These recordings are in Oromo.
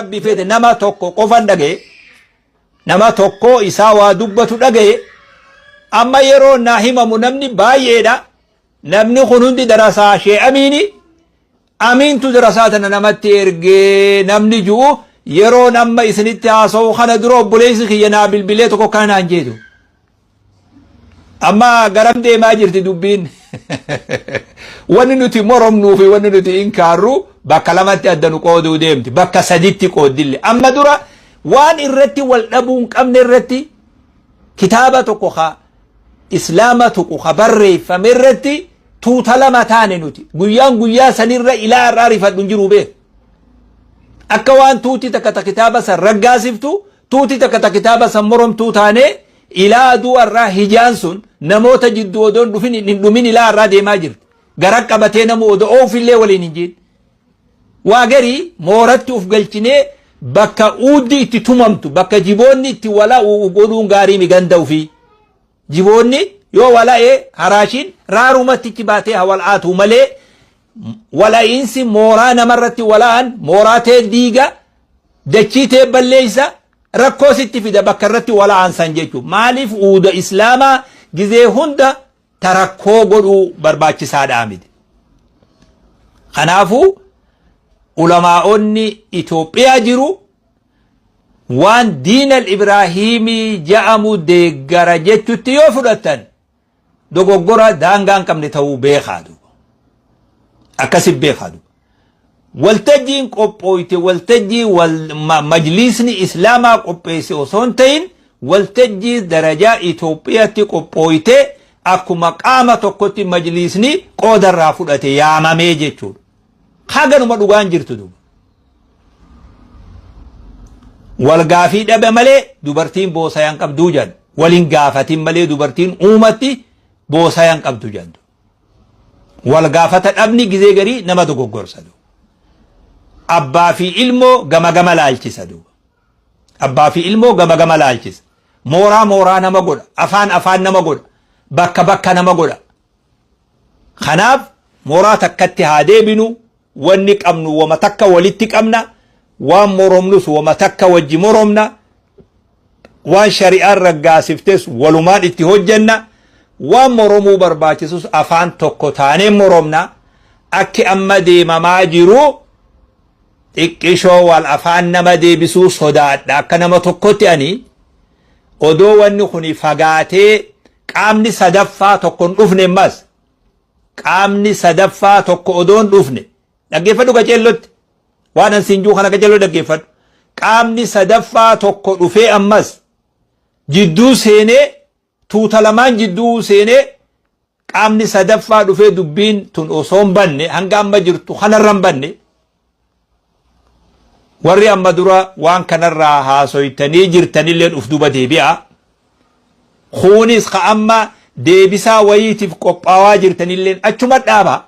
rabbi fedhe nama tokko qofan dhagaye nama tokko isaa waa dubbatu dhagaye amma yeroo naa himamu namni baay'eedha namni kun hundi darasaa shee amiini amiintu darasaa tana namatti ergee namni ju'u yeroon amma isinitti haasa'u kana dura obboleessi kiyya naa bilbilee tokko kana naan jeetu Amma garam deemaa jirti dubbiin? Wanni nuti moromnuu fi wanni nuti inkaarru bakka lamatti adda nu qooduu deemti. Bakka saditti qooddille. Amma dura waan irratti wal dhabuu hin qabne irratti kitaaba tokko ka islaama tuqu ka barreeffame irratti tuuta lama taane nuti. Guyyaan guyyaa sanirra ilaa har'aa rifadhu hin jiru bee. Akka waan tuuti takka ta kitaaba san raggaasiftu Tuuti takka ta kitaaba san moromtuu taanee ilaa aduu arraa hijaan sun namoota jidduu odoon dhufin hin dhumin ilaa arraa deemaa jirti. Garan qabatee namu odo oofillee waliin hin jiin. Waa garii mooratti uf galchinee bakka uuddi itti tumamtu bakka jiboonni itti wala u'u godhuun gaarii mi ganda ufii. Jiboonni yoo wala'e haraashiin raarumatti itti baatee haa wal'aatuu malee wala'iinsi mooraa namarratti wala'an mooraa tee diiga dachii tee balleessa rakkoo sitti fida bakka irratti wala'an san jechuudha. Maaliif uuda islaamaa gizee hunda tarakkoo godhuu barbaachisaadhaa miti. Kanaafuu ulamaa'onni Itoophiyaa jiru waan diin al-Ibraahiimii ja'amu deeggara jechutti yoo fudhattan dogoggora daangaa hin qabne ta'uu beekaa duuba. Akkasi beekaa duuba. Waltajjiin qophooyte waltajjii wal- ma- majliisni islaamaa qopheesse osoo hin ta'in waltajjii darajaa Itoophiyaatti qophooyte akkuma qaama tokkotti majliisni qoodarraa fudhate yaamamee jechuudha. Haganuma dhugaan jirtu duuba. Walgaafii dhabe malee dubartiin boosayaan qabduu jedhan. Waliin gaafatiin malee dubartiin uumatti boosayaan qabdu jedhan. Walgaafata dhabni gizee garii nama dogoggorsa. Abbaa fi ilmoo gama gama laalchisa. Abbaa fi ilmoo gama gama laalchisa. Mooraa mooraa nama godha. Afaan afaan nama godha. Bakka bakka nama godha. Kanaaf mooraa takkatti haa deebinu Wanni qabnu woma takka walitti qabna, waan moromnus woma takka wajji moromna, waan shari'aan raggaasiftes walumaan itti hojjenna, waan moromuu barbaachisus afaan tokko taanee moromna, akki amma deemamaa jiru xiqqishoo wal afaan nama deebisuu sodaadha akka nama tokkotti ani odoo wanni kuni fagaatee qaamni sadaffaa tokkon dhufne mas qaamni sadaffaa tokko odoo hin dhufne dhaggeeffadhu qaceellotti waan an siin juu kana qaceelloo dhaggeeffadhu qaamni sadaffaa tokko dhufee ammas jidduu seenee tuuta lamaan jidduu seenee qaamni sadaffaa dhufee dubbiin tun osoo hin banne hanga amma jirtu kanarra hin banne Warri amma dura waan kanarraa haasoytanii jirtanilleen uf duba deebi'a. Kuunis ka amma deebisaa wayiitiif qophaawaa jirtanilleen achuma dhaaba.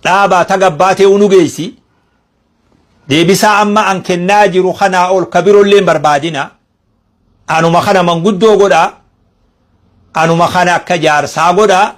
Dhaabaa tagabbaatee unu geessi. Deebisaa amma an kennaa jiru kanaa ol ka birolleen barbaadina. Anuma kana manguddoo godhaa, anuma kana akka jaarsaa godhaa,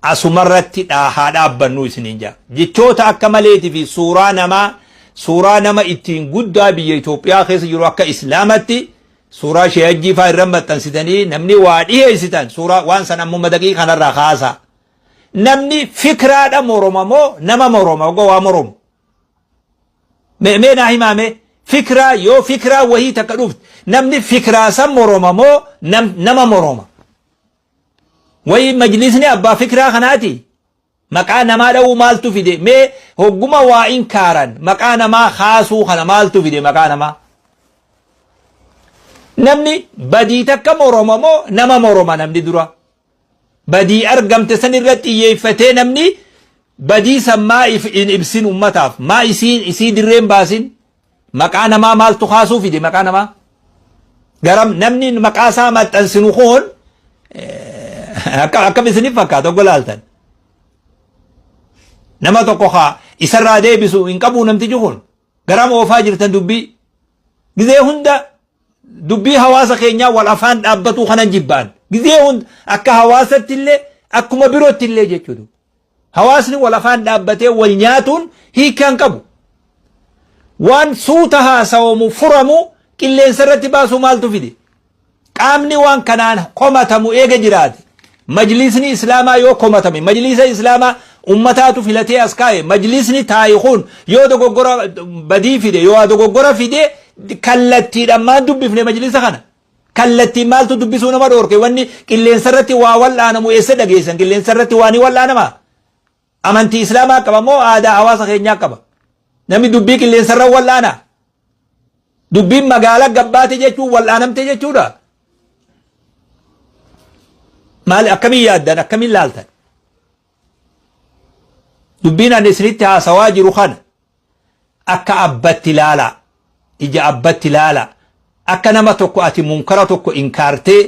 asumarratti dhaa haa dhaabbannuu isiniin jaa. Jechoota akka maleetii fi suuraa namaa, suuraa nama ittiin guddaa biyya Itoophiyaa keessa jiru akka Islaamatti, suuraa Shee Hajjii faa irra maxxansitanii namni waa dhiheessitan suuraa waan san ammuma daqii kanarraa kaasaa. Namni fikraadha moroma moo nama moroma ogoo waa moromu? Me me naa himaa me fikraa yoo fikraa wahii takka dhufte namni fikraa san moroma moo nam, nama moroma wayii majlisni abbaa fikraa kanaati maqaa namaa dha'uu maaltu fide me hogguma waa in kaaran maqaa namaa kaasuu kana maaltu fide maqaa namaa namni badii takka moroma moo nama moroma namni dura badii argamte san irratti xiyyeeffatee namni badii san maa if hin ibsin ummataaf maa isii isii dirreen baasin maqaa namaa maaltu kaasuu fide maqaa namaa garam namni maqaa isaa maxxansinu kun eh, akka akkam isiniif fakkaata oggo laaltan nama tokko haa isarraa deebisu hin qabu namtichi kun Garam oofaa jirtan dubbii? Gizee hunda dubbii hawaasa keenyaa wal afaan dhaabbatuu kanan jibbaan. Gizee hunda akka hawaasatti illee akkuma birootti illee jechuudha. Hawaasni wal afaan dhaabbatee wal nyaatuun hiikaa hin qabu. Waan suuta haasawamu furamu qilleensa irratti baasuu maaltu fide? Qaamni waan kanaan komatamu eega jiraate, Majliisni Islaamaa yoo komatame, Majliisa Islaamaa ummataatu filatee as kaa'e, Majliisni taa'e kun yoo dogoggora, badii fide, yookaa dogoggora fide, kallattiidhaan maan dubbifne Majliisa kana? Kallattiin maaltu dubbisuu nama dhoorke? Wanni qilleensarratti waa wal'aanamu eessa dhageessan? Qilleensarratti waa ni wal'aanamaa? Amantii Islaamaa qaba moo aadaa hawaasa keenyaa qaba? Namni dubbii qilleensarra wal'aana. Dubbiin magaala gabbaate jechuun wal'aanamte jechuudha. Maali akkamiin yaaddan akkamiin laaltan? Dubbiin ani isinitti haasawaa jiru kana akka abbatti laala ija abbatti laala akka nama tokko ati munkara tokko inkaartee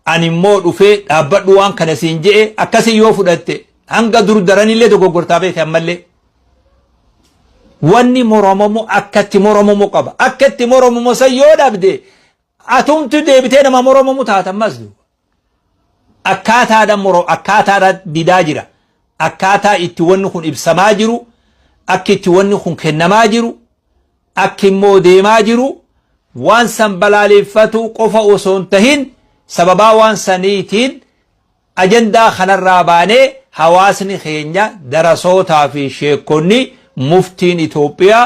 ani immoo dhufee dhaabbadhu waan kana siin je'e akkasii yoo fudhatte hanga dur daranillee dogoggortaa beekte ammallee wanni moromamu akka itti moromamu qaba akka itti moromamu san yoo dhabde atumtu deebitee nama moromamu taata ammas duuba akkaataadha moro akkaataadha didaa jira akkaataa itti wanni kun ibsamaa jiru akki itti wanni kun kennamaa jiru akki immoo deemaa jiru waan san balaaleeffatuu qofa osoo hin tahin sababaa waan saniitiin ajandaa kanarraa baanee hawaasni keenya darasootaa fi sheekonni muftiin Itoophiyaa